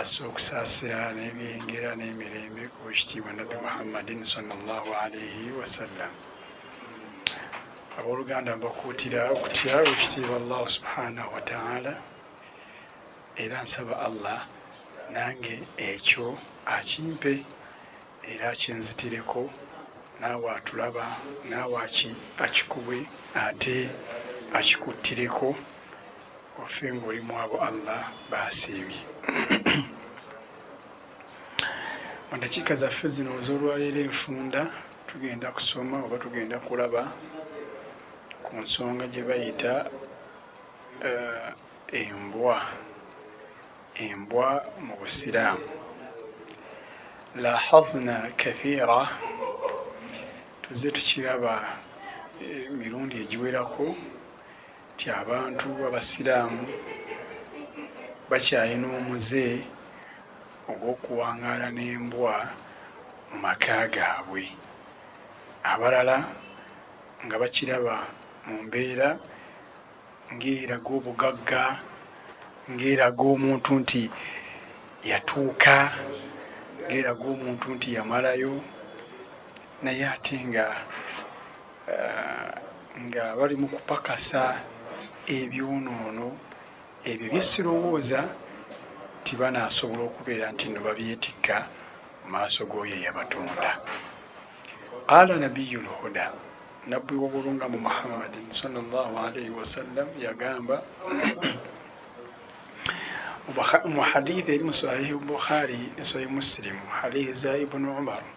Assa okusaasira n'ebyengera n'emirembe ku w'ekitiibwa Nabbi Muhammadin sallallahu alaihi wasallam. Abooluganda mbakuutira okutya w'ekitiibwa Allahu subhanahu wa ta'ala era nsaba Allah nange ekyo akimpe era akinzitireko naawe atulaba naawe akikuwe ate akikuttireko Offe nga oli mwabo Allah basiimye. Mu dakiika zaffe zino ez'olwaleero enfunda tugenda kusoma oba tugenda kulaba ku nsonga gye bayita uh, embwa embwa mu busiraamu lahazna kathira tuze tukiraba eh, mirundi egiwerako nti abantu abasiraamu bakyalina omuze ogw'okuwangaala n'embwa mu maka gaabwe, abalala nga bakiraba mu mbeera ng'eraga obugagga, ng'eraga omuntu nti yatuuka, ng'eraga omuntu nti yamalayo naye ate nga. nga bali mu kupakasa ebyonoono ebyo bye sirowooza nti banaasobola okubeera nti nno babyetikka mu maaso g'oyo eyabatonda qaala nabiyu lhuda nabbi wobulungamu muhammadin salllahu alaihi wasallam yagamba mu hadithi eri mu sahihi bukhari ne sahihi musilimu hadithi za ibunu umaru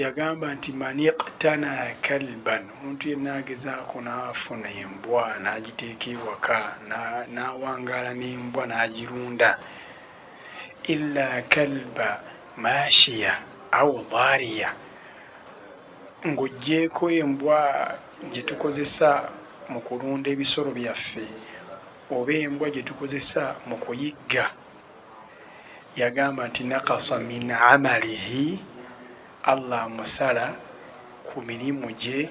Yagamba nti, Man iqtana kalban, omuntu yenna agezaako n'afuna embwa n'agiteeka ewaka, n'awangaala n'embwa n'agirunda, illa kalba maashiya aw daariya, ng'oggyeeko embwa gye tukozesa mu kulunda ebisolo byaffe oba embwa gye tukozesa mu kuyigga yagamba nti nakasa min amalihi Allah amusala ku mirimu gye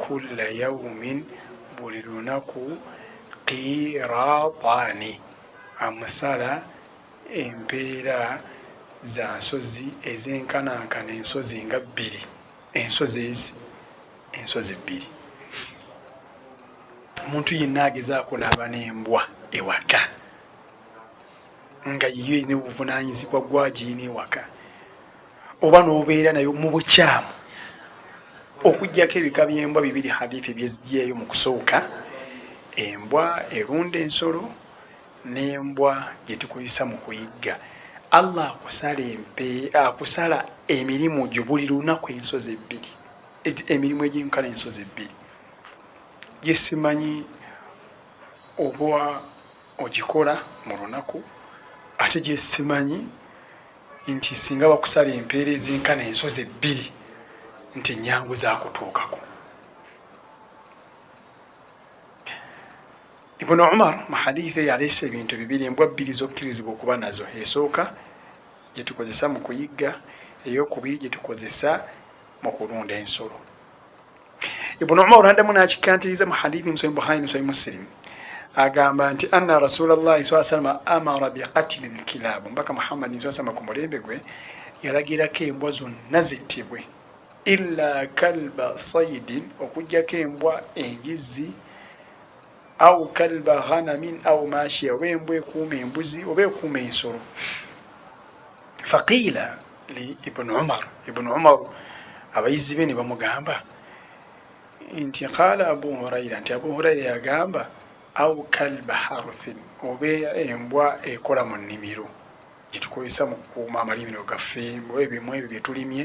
kulla yawumin buli lunaku qiratani amusala empeera za nsozi ezenkanankana ensozi nga bbiri ensozi ezi ensozi bbiri omuntu yenna agezaako naaba nembwa ewaka nga yiyo erina obuvunanyizibwa gwagirina ewaka oba nobeera nayo mu bukyamu okugyako ebika byembwa bibiri hadithi byezigyeyo mu kusooka embwa erunda ensolo nembwa gyetukozesa mu kuyigga allah akusala empe akusala emirimu gyo buli lunaku ensozi ebbiri emirimu egyenkana ensozi ebbiri gyesimanyi oba ogikola mu lunaku ate gye simanyi nti singa bakusala empeera ezenkana ensozi ebbiri nti nnyangu za kutuukako. Ibn Umar mu hadiithi eyo aleese ebintu bibiri embwa bbiri z'okkirizibwa okuba nazo. Esooka gye tukozesa mu kuyigga, ey'okubiri gye tukozesa mu kulunda ensolo ibuni umaru addamu n'akikkantiriza mu hadithi musayi bukhari musayi musilimu agamba nti anna rasulallahi saa salama amara biqatili lkilaabu mbaka muhammadi saa salama ku mulembe gwe yalagirako embwa zonna zittibwe illa kalba saidin okugjako embwa enjizzi au kalba ghanamin au mashia oba embwa ekuuma embuzi oba ekuuma ensolo faqiila li ibuni umar ibuni umaru abayizi be ne bamugamba nti qaala abu huraira nti abu huraira yagamba au kalba haruthin oba embwa ekola mu nnimiro gyetukozesa mu kukuuma amalimiro gaffe ebimu ebyo byetulimye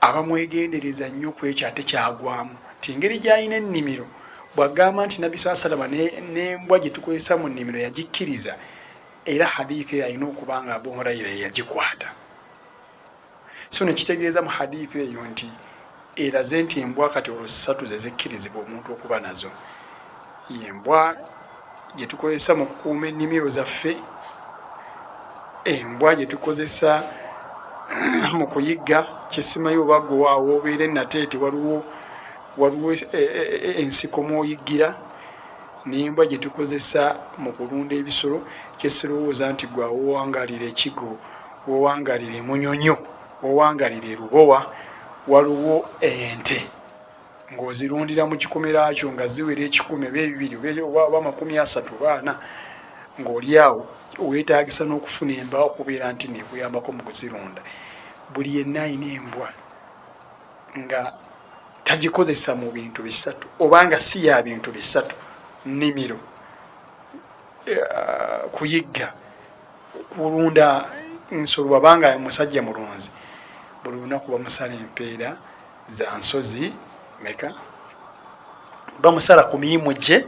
Abamwegendereza nnyo ku ekyo ate kyagwamu nti engeri gy'alina ennimiro, bw'agamba nti Nabbi swalla sallama ne, n'embwa gye tukozesa mu nnimiro yagikkiriza, era hadiith eyo alina okuba nga Abu Huraira ye yagikwata. So ne kitegeeza mu hadiith eyo nti eraze nti embwa kati olwo ssatu ze zikkirizibwa omuntu okuba nazo. Embwa gye tukozesa mu kukuuma ennimiro zaffe, embwa gye tukozesa mu kuyigga kisimayo oba gwe awoobeera e Nateete waliwo waliwo e, e, e, ensiko mw'oyiggira n'embwa gye tukozesa mu kulunda ebisolo kye sirowooza nti gwe awowangalira ekigo wowangalira emunyonyo wowangalira erubowa waliwo ente ng'ozirundira mu kikomera kyo nga ziwera ekikumi oba ebibiri oba amakumi asatu oba ana ng'oli awo weetaagisa n'okufuna embwa okubeera nti neekuyambako mu kuzirunda buli yenna alina embwa nga tagikozesa mu bintu bisatu oba nga si ya bintu bisatu nnimiro eh, kuyigga kulunda nsolo wabanga musajja mulunzi buli lunaku bamusala empeera Za nsozi meka? Bamusala ku mirimu gye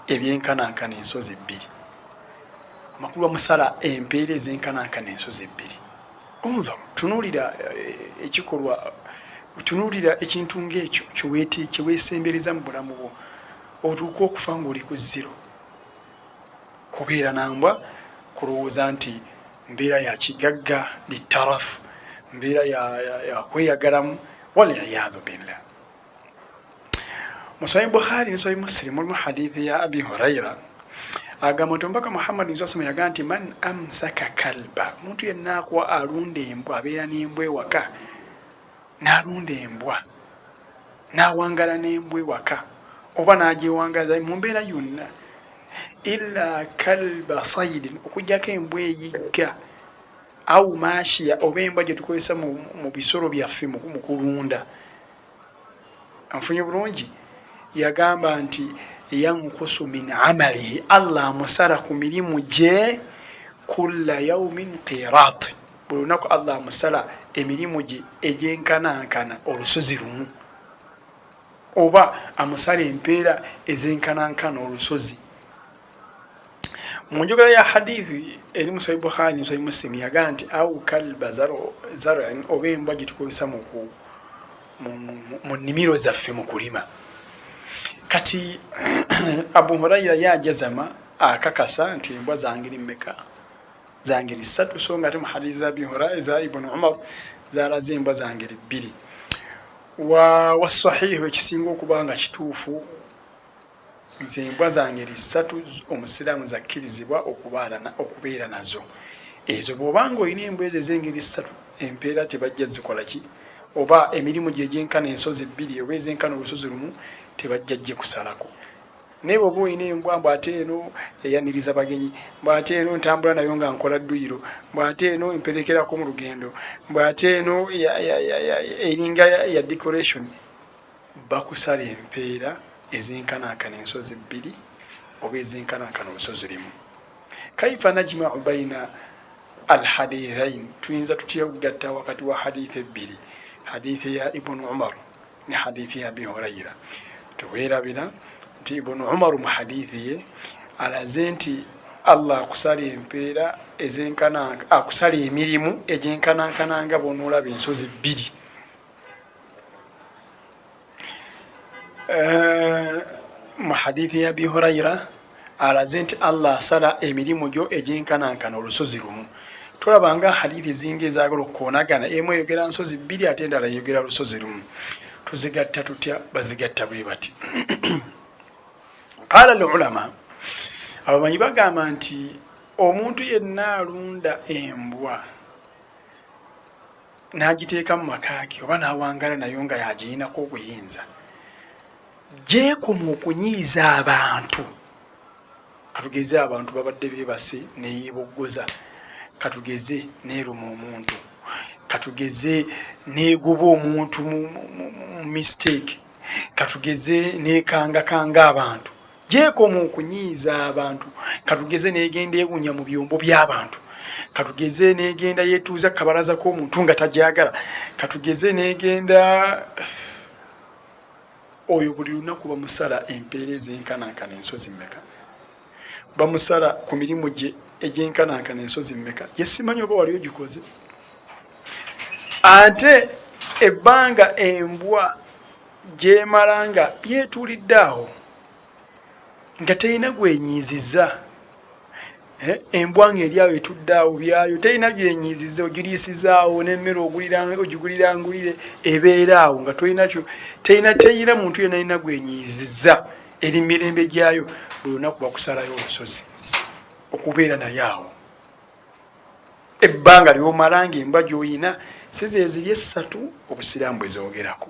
ebyenkanankana ensozi bbiri. Amakulu bamusala empeera ezenkanankana ensozi ebbiri. Unzur, tunuulira eh, ekikolwa, tunuulira ekintu ng'ekyo kye weesembereza mu bulamu bwo, otuuka okufa ng'oli ku zero. Kubeera na mbwa kulowooza nti mbeera ya kigagga litarafu mbeera yakweyagalamu waliyadhu billah musayi bukhari nisayi muslim mulimu hadithi ya abi huraira agamba nti omubaka muhammadi nsasama yaga nti man amsaka kalba omuntu yenna akuwa alunda embwa abeera n'embwa ewaka n'alunda embwa n'awangaala n'embwa ewaka oba n'agyewangaza mu mbeera yonna illa kalba sayidin okuggyako embwa eyigga au maashiya oba embwa gye tukozesa mu bisolo byaffe mu kulunda anfunye bulungi yagamba nti yankusu min amalihi allah amusala ku mirimu gye kulla yaumin qirat Buli lunaku Allah amusala emirimu gye egyenkanankana olusozi lumu, oba amusala empeera ezenkanankana olusozi. Mu njogera ya Hadith eri mu Sahih Bukhari ne Sahih Muslim yagamba nti au kalba zar'an, oba embwa gye tukozesa mu mu nnimiro zaffe mu kulima. Kati Abu Huraira ye ajazama akakasa nti embwa zange eri mmeka? za ngeri ssatu so ng'ate mu hadiisi za Abi Huraira eza Ibn Umar zaalaze embwa za ngeri bbiri. Wa wassahiihu ekisinga okuba nga kituufu nze embwa za ngeri ssatu Omusiraamu zakkirizibwa okubeera nazo. Ezo bw'oba ng'olina embwa ezo ez'engeri ssatu empeera tebajja zikola ki oba emirimu gye gyenkana ensozi bbiri oba ezenkana olusozi lumu tebajja gikusalako. Naye bwoba olina embwa mbu ate eno eyaniriza bagenyi, mbu ate eno ntambula nayo nga nkola dduyiro, mbu ate eno emperekerako mu lugendo, mbu ate eno eringa ya decoration, bakusala empeera ezenkanankana ensozi bbiri oba ezenkanankana olusozi limu. Kaifa najmau baina Al hadithain, tuyinza tutya okugatta wakati wa hadith ebbiri, hadith ya Ibun Umar, ne hadithi ya abi hurayira tewerabira nti ibunu umaru mu hadithi ye alaze nti allah akusala empeera ezenkana akusala emirimu egyenkanankana nga bonoolaba ensozi bbiri eh, mu hadithi ya abi hurayira Alaze nti Allah asala emirimu gyo egyenkanankana olusozi lumu. Tolaba nga Hadiith eziinga ezaagala okukoonagana, emu eyogera nsozi bbiri ate endala eyogera lusozi lumu. Tuzigatta tutya? Bazigatta bwe bati. Qaala al-ulama, abamanyi bagamba nti omuntu yenna alunda embwa n'agiteeka mu maka ge oba n'awangaala nayo nga y'agiyinako obuyinza, gy'ekoma okunyiiza abantu. Katugeze abantu babadde beebase ne yeeboggoza, katugeze n'eruma omuntu, katugeze n'egoba omuntu mu mistake, katugeze n'ekangakanga abantu. Gy'ekoma okunyiiza abantu, katugeze n'egenda ewunya mu byombo by'abantu, katugeze n'egenda yeetuuza ku kabalaza k'omuntu nga tagyagala, katugeze n'egenda... Oyo buli lunaku bamusala empeera ez'enkanankana ensozi mmeka? Bamusala ku mirimu gye egy'enkanankana ensozi mmeka? Gye simanyi oba wali ogikoze. Ate ebbanga embwa gy'emala nga yeetuulidde awo. nga terina gwenyiiziza eh, embwa nga eri awo etudde awo byayo terina gyenyiiziza ogiriisizaawo n'emmere ogigulirangulire ebeera awo nga tolinakyo terina terina muntu yena alina gwenyiiziza eri mirembe gyayo buli lunaku bakusalayo olusozi okubeera naye awo ebbanga lyomala nga embwa gyoyina sizeziri essatu obusiraamu bwezoogerako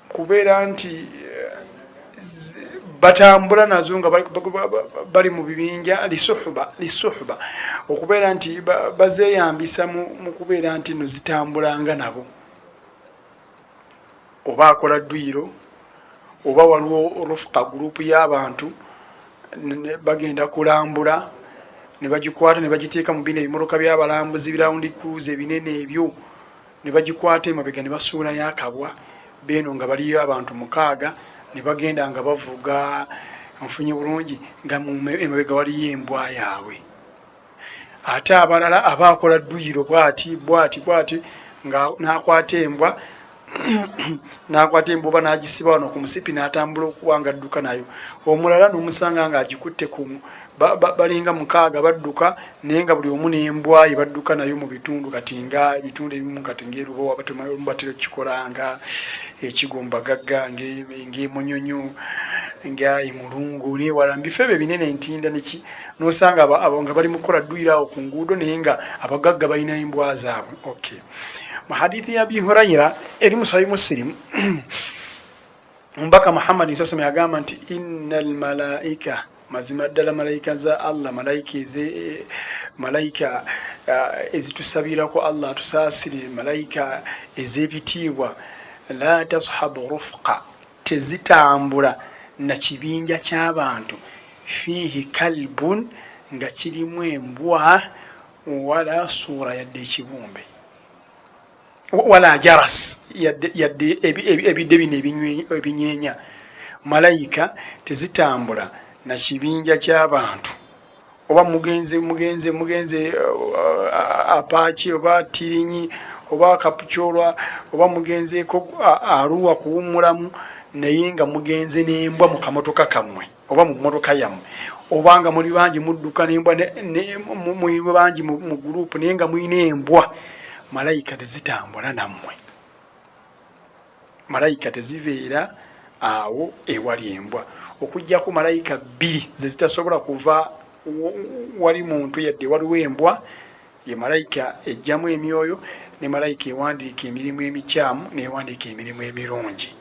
kubeera nti batambula nazo nga bali mu bibinja lisuhuba okubeera nti bazeyambisa mu kubeera nti no zitambulanga nabo oba akola dduyiro oba waliwo rufuka gurupu y'abantu bagenda kulambula ne bagikwata ne bagiteeka mu bino ebimoroka by'abalambuzi birawundi kuluuza ebinene ebyo ne bagikwata emabega ne basuulayo akabwa, beeno nga baliyo abantu mukaaga ne bagenda nga bavuga, onfunye bulungi, nga emabega waliyo embwa yaabwe. Ate abalala aba akola dduyiro bwati bwati bwati nga n'akwata embwa n'akwata embwa oba n'agisiba wano ku musipi n'atambula okuba nga adduka nayo. Omulala n'omusanga ng'agikutte balinga mukaaga badduka naye nga buli omu nembwaye badduka nayo mu bitundu kati nga ebitundu ebimu kati ngaerubowa batemaomu batera okukikola nga ekigo mubagagga ngaemunyonyo nga emulungu newala mubifo ebyo ebinene entinda neki nosanga nga bali mukukola dduyira awo ku nguudo naye nga abagagga balina embwa zaabwe ok mu hadithi ya bihuraira eri musabi musirimu Omubaka Muhammad nsasama yagamba nti inna almalaika mazima ddala malayika za Allah malayika eze malayika eh, ezitusabirako Allah atusaasire malayika ez'ebitiibwa la tashabu rufqa tezitambula na kibinja ky'abantu fiihi kalbun nga kirimu embwa wala suura yadde ekibumbe wala jaras yadde ebidde bino ebinyeenya malayika tezitambula na kibinja ky'abantu oba mugenze mugenze mugenze uh, apaaki oba tirinyi oba kapucolwa oba mugenzeeko aruwa kuwummulamu naye nga mugenze n'embwa mu kamotoka kammwe oba mu mmotoka yammwe oba nga muli bangi mudduka nembwa muli bangi mu guruupu naye nga mulina embwa malayika tezitambula nammwe malayika tezibeera awo ewali embwa okugyako malayika bbiri ze zitasobola kuva wali muntu yadde waliwo embwa ye malayika ejjamu emyoyo ne malayika ewandiika emirimu emikyamu newandiika emirimu emirungi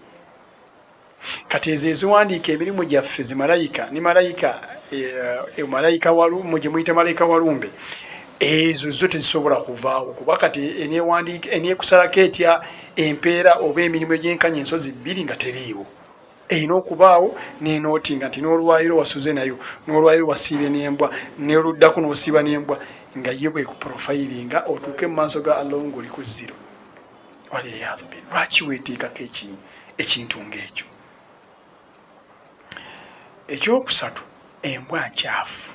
Kati ezo eziwandiika emirimu gyaffe zi malayika ne malayika e, malayika walumu gye muyita malayika walumbe ezo zo tezisobola kuvaawo kuba kati enewandiika enekusalako etya empeera oba emirimu egyenkanya ensozi bbiri nga teriiwo erina okubaawo nenooti nga nti n'olwayiro wasuze nayo n'olwayiro wasiibye n'embwa noluddako n'osiiba n'embwa nga ye bwekuprofayiringa otuuke mu maaso ga allah ngoli ku ziro waliyadhubi lwaki weteekako ekintu ng'ekyo ekyokusatu embwa nkyafu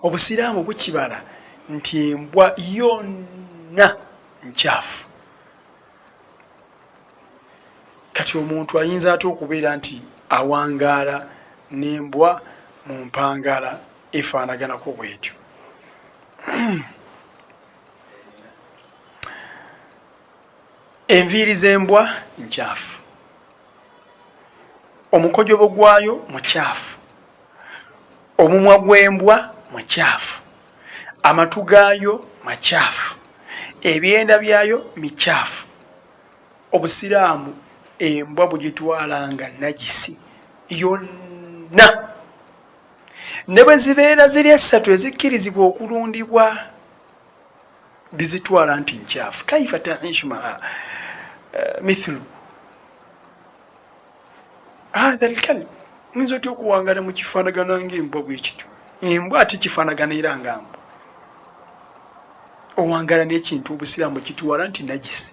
obusiraamu bukibala nti embwa yonna nkyafu kati omuntu ayinza atya okubeera nti awangaala n'embwa mu mpangala efaanaganako bwetyo enviiri z'embwa nkyafu omukojobo gwayo mukyafu omumwa gw'embwa mukyafu amatu gaayo makyafu ebyenda byayo mikyafu obusiraamu embwa bugitwala nga nagisi yonna ne bwe zibeera ziri essatu ezikkirizibwa okulundibwa bizitwala nti nkyafu kaifa taishu maa eh, mithlu hatha lkalb nyinza otya okuwangala mu kifaanagana ngaembwa bwekityo embwa ati kifaanagana era nga mbwa owangala n'ekintu obusiraamu kitwala nti najisi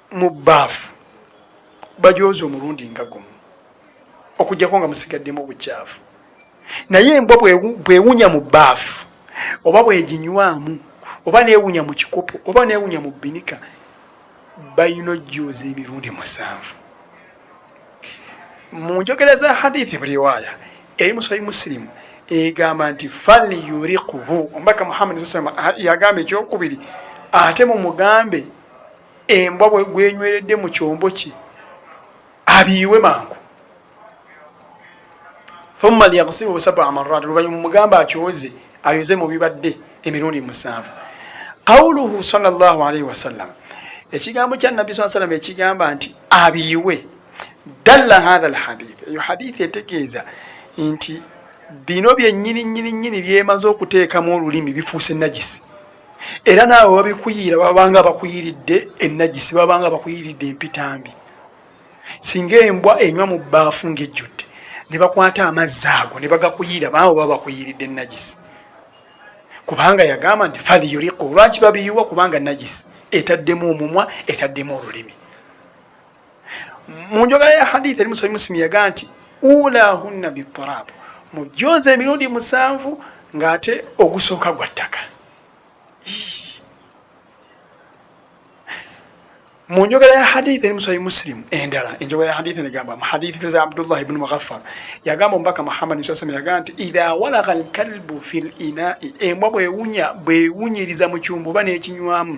Mu bbaafu bajooze omulundi nga gumu okuggyako nga musigaddemu obucaafu. Naye embwa bw'ewunya mu bbaafu oba bw'eginywamu oba n'ewunya mu kikopo oba n'ewunya mu bbinika balina ojjooza emirundi musanvu. Mu njogera za hadithi buriwaaya eri mu Sahih Muslim egamba nti falyuriquhu, Omubaka Muhammad sallallahu alayhi wa sallam yagamba ekyokubiri ate mumugambe embwa bwenyweredde mu kyombo kye abiyiwe mangu thumma liyakusibu sabaa marat oluvanyuma mugamba akyoze ayoze mu bibadde emirundi musanvu qauluhu salllahu alaihi wasallam ekigambo kya nabbi saa sallam ekigamba nti abiyiwe dalla hatha lhadith eyo hadithi etegeeza nti bino byenyini nyini nyini byemaze okuteekamu olulimi bifuuse najisi era naawe babikuyiira babanga bakuyiridde enagisi babanga bakuyiridde empitambi singa embwa enywa mu baafu ngaejjudde ne bakwata amazzi ago ne bagakuyiira baawe baba bakuyiridde enagisi kubanga yagamba nti faliyuriku lwaki babiyuwa kubanga nagisi etaddemu omumwa etaddemu olulimi mu njogera ya hadith eri musayi musimi yaga nti ulahunna biturab mujooza emirundi musanvu ng'ate ogusooka gwa ttaka mu njogera ya hadith eri musayi musilimu endala enjogera ya hadith negamba mu hadith za abdullah ibnu mughafar yagamba omubaka muhammadi saa sallam yagamba nti idha walaga alkalbu fi linai embwa bwewunya bwewunyiriza mu kyumba oba n'ekinywamu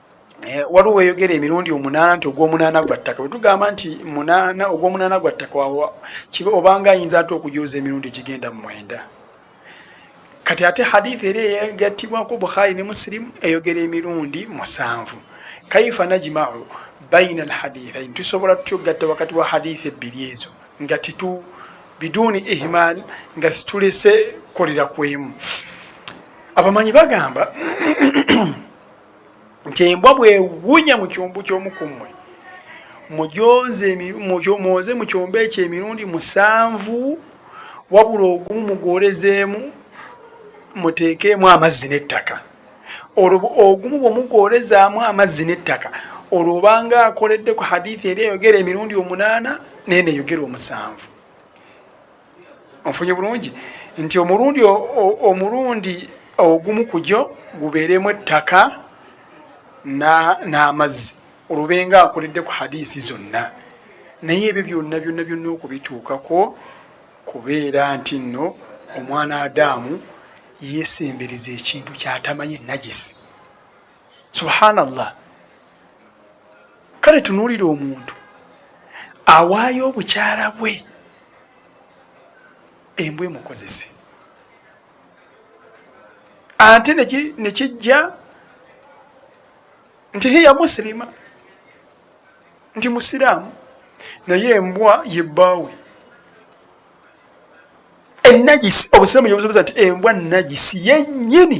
Eh, waliwo weyogera emirundi omunaana nti ogwomunaana gwa ttaka wetugamba nti munaana ogwomunaana gwa ttaka wawa kiba obanga ayinza ate okujooza emirundi egigenda mu mwenda kati ate hadith era eyagatibwako bukhari ne musilimu eyogera emirundi musanvu kaifa najmau baina alhadithain tusobola tutya okugatta wakati wa hadith ebbiri ezo nga titu biduuni ihmal nga situlese kolera kwemu abamanyi bagamba nti embwa bwewunya mu kyombo ky'omu ku mmwe mujooze mu kyombo ekyo emirundi musanvu wabula ogumu mugwolezeemu muteekeemu amazzi n'ettaka olwo ogumu bwe mugwolezaamu amazzi n'ettaka olwo obanga akoledde ku hadithi eri eyogera emirundi omunaana neena eyogera omusanvu Onfunye bulungi nti omulundi omulundi ogumu ku gyo gubeeremu ettaka n'amazzi olwo benga nkoledde ku hadiisi zonna naye ebyo byonna byonna byonna okubituukako kubeera nti nno omwana adaamu yeesembereza ekintu kyatamanyi enagisi subhana llah kale tunuulira omuntu awaayo obukyala bwe embwa emukozese ate nekijja nti hiya musilima nti musiraamu naye embwa yebbaawe enagisi obusiraamu yebusoboza nti embwa nagisi yenyini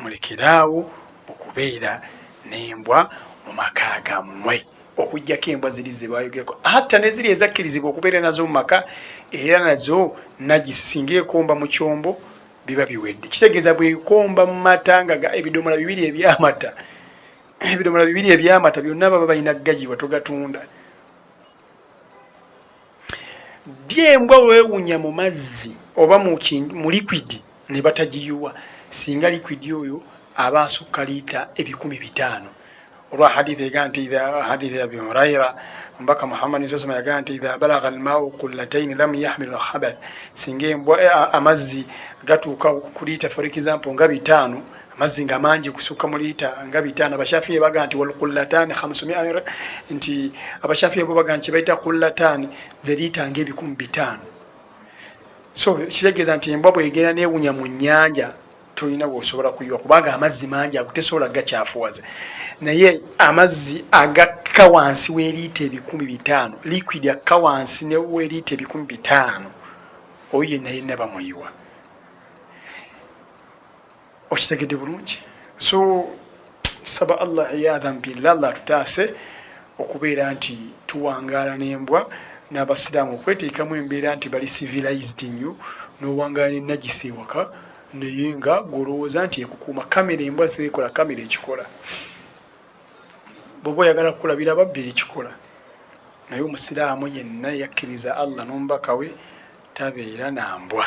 Mulekere awo okubeera n'embwa mu maka gammwe. Okuggyako embwa ziri ze baayogerako, hatta ne ziri ezakkirizibwa okubeera nazo mu maka, era nazo najisi singa ekomba mu kyombo biba biwedde. Kitegeeza bw'ekomba mu mata nga ebidomola bibiri eby'amata, ebidomola bibiri eby'amata byonna baba balina gayirwa, togatunda. Ddi embwa wewunya mu mazzi oba mu likwidi ne batagiyiwa singa likwidi oyo aba asukka liita ebikumi bitaano? Olwa hadiith egaa nti idha hadiith ya Abi Huraira omubaka Muhammad nsa sama yagaa nti idha balagha almau kullataini lam yahmil alkhabath, singa embwa eh, amazzi gatuuka ku liita for example nga bitaano amazzi nga mangi kusukka mu liita nga bitaano abashafiya baga nti walkullataani hamsumia nti abashafiya bo baga nti kyebaita kullataani ze liita nga ebikumi bitaano so kitegeeza nti embwa bwegenda newunya mu nyanja tolina wosobola kuyiwa kubanga amazzi mangi ago tesobola gakyafuwaza naye amazzi agakka wansi weliita ebikumi bitaano liquid akka wansi neweliita ebikumi bitaano oyo yenna yenna bamuyiwa okitegedde bulungi so tusaba allah eyadhan billah allah atutaase okubeera nti tuwangaala n'embwa n'abasiraamu okweteekamu embeera nti bali civilized nnyo n'owangaala n'ennagisi ewaka naye nga gwolowooza nti ekukuuma kamera embwa zeekola kamera ekikola bwoba oyagala kukulabira ababbi ekikola naye omusiraamu yenna yakkiriza allah n'omubaka we tabeera na mbwa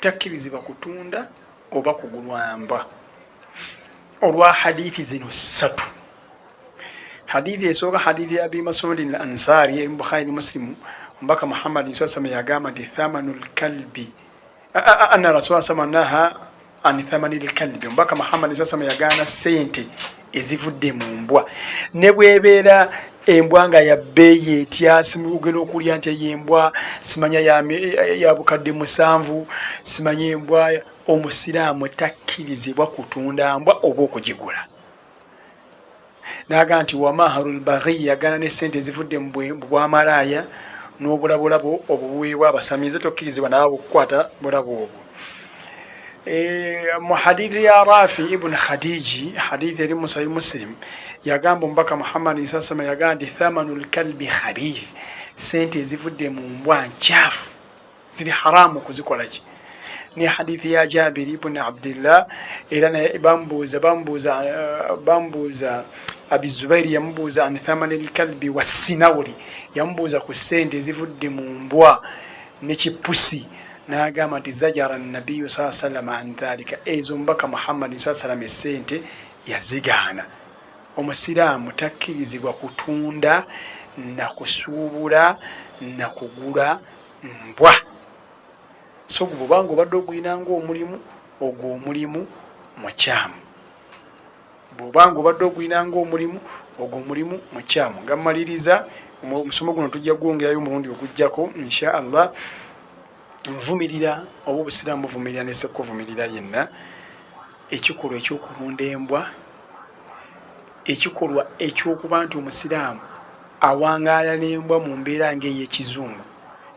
takkirizibwa kutunda oba kugulwamba olwa hadithi zino ssatu hadithi esooka hadithi ya abi masudi l ansari eri mubukhari ne musilimu omubaka muhammadi saa sama yagamba nti thamanu lkalbi anna rasula sama naha anithamani lkalbi omubaka muhammad sasama yagaana sente ezivudde mu mbwa ne bwebeera embwa nga yabbeeyi etyasimuugenda okulya nti eyo embwa simanya ya bukadde musanvu simanya embwa omusiraamu takkirizibwa kutunda mbwa oba okugigula naaga nti wamaharu lbaghi yagaana ne sente ezivudde mu bwamalaaya n'obulabulabo obwo buweebwa abasami nze tokkirizibwa naawe okukwata bulabo obwo mu hadithi ya rafi ibuni khadiji hadithi eri musahi musilimu yagamba omubaka muhammadi sasama yagamba nti thamanu lkalbi khabith sente ezivudde mu mbwa nkyafu ziri haramu kuzikolaki ne hadithi ya jabiri ibn abdillah era naye bambuuza bambuuza eh, bambuuza abi zubairi yamubuuza an thamani lkalbi wassinawuri yamubuuza ku sente ezivudde mu mbwa nekipusi nagamba nti zajara nabiyu saa salama an dhalika ezo mubaka muhammadi saa salama esente yazigaana omusiraamu takkirizibwa kutunda nakusuubula nakugula mbwa so gwe bwobanga obadde ogulina ngaomulimu ogwo omulimu mukyamu bwobanga obadde ogulina ngaomulimu ogwo omulimu mukyamu nga mmaliriza omusomo guno tujja gwongerayo omulundi ogujjako insha allah nvumirira oba obusiraamu buvumirira nesekkuvumirira yenna Ekikolwa eky'okulunda embwa ekikolwa eky'okuba nti Omusiraamu awangaala n'embwa mu mbeera ng'eyo ekizungu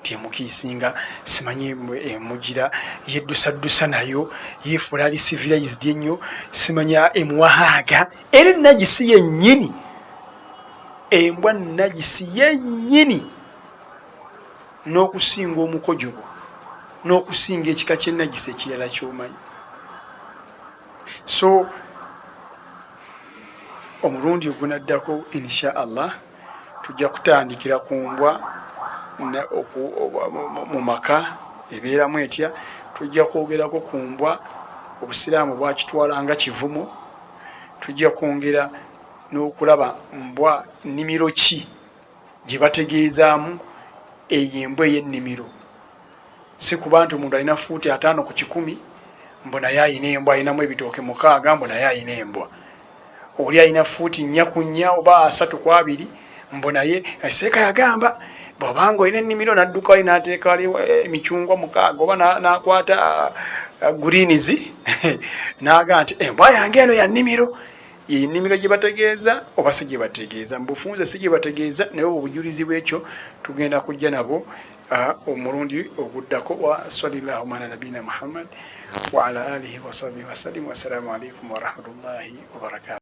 nti emukiisinga, simanyi emugira, yeddusaddusa nayo, yeefuula ali civilized ennyo, simanyi emuwa haaga, era ennagisi yennyini. Embwa nnagisi yennyini. n'okusinga omukojobo n'okusinga ekika ky'ennagisa ekirala ky'omanyi so omulundi ogunaddako insha allah tujja kutandikira ku mbwa mu maka ebeeramu etya tujja kwogerako ku mbwa obusiraamu bwakitwala nga kivumo tujja kwongera n'okulaba mbwa nnimiro ki gye bategeezaamu eyo embwa ey'ennimiro. Si kuba nti omuntu alina ffuuti ataano ku kikumi mbu naye alina embwa, alinamu ebitooke mukaaga mbu naye alina embwa, oli alina ffuuti nnya ku nnya oba asatu ku abiri mbu naye. Seeka yagamba bw'oba nga olina ennimiro n'adduka wali n'ateeka wali eh, emicungwa mukaaga oba n'akwata ah, guliinizi n'aga nti embwa eh, yange eno ya nnimiro. Ye nnimiro gye bategeeza oba si gye bategeeza? Mu bufunze si gye bategeeza naye obwo bujulizi bw'ekyo tugenda kujja nabwo omulundi oguddako. Wa swalillahu ala nabiina Muhammad wa ala alihi wasahbihi wasallim. Wassalamu alaikum warahmatullahi wabarakatu.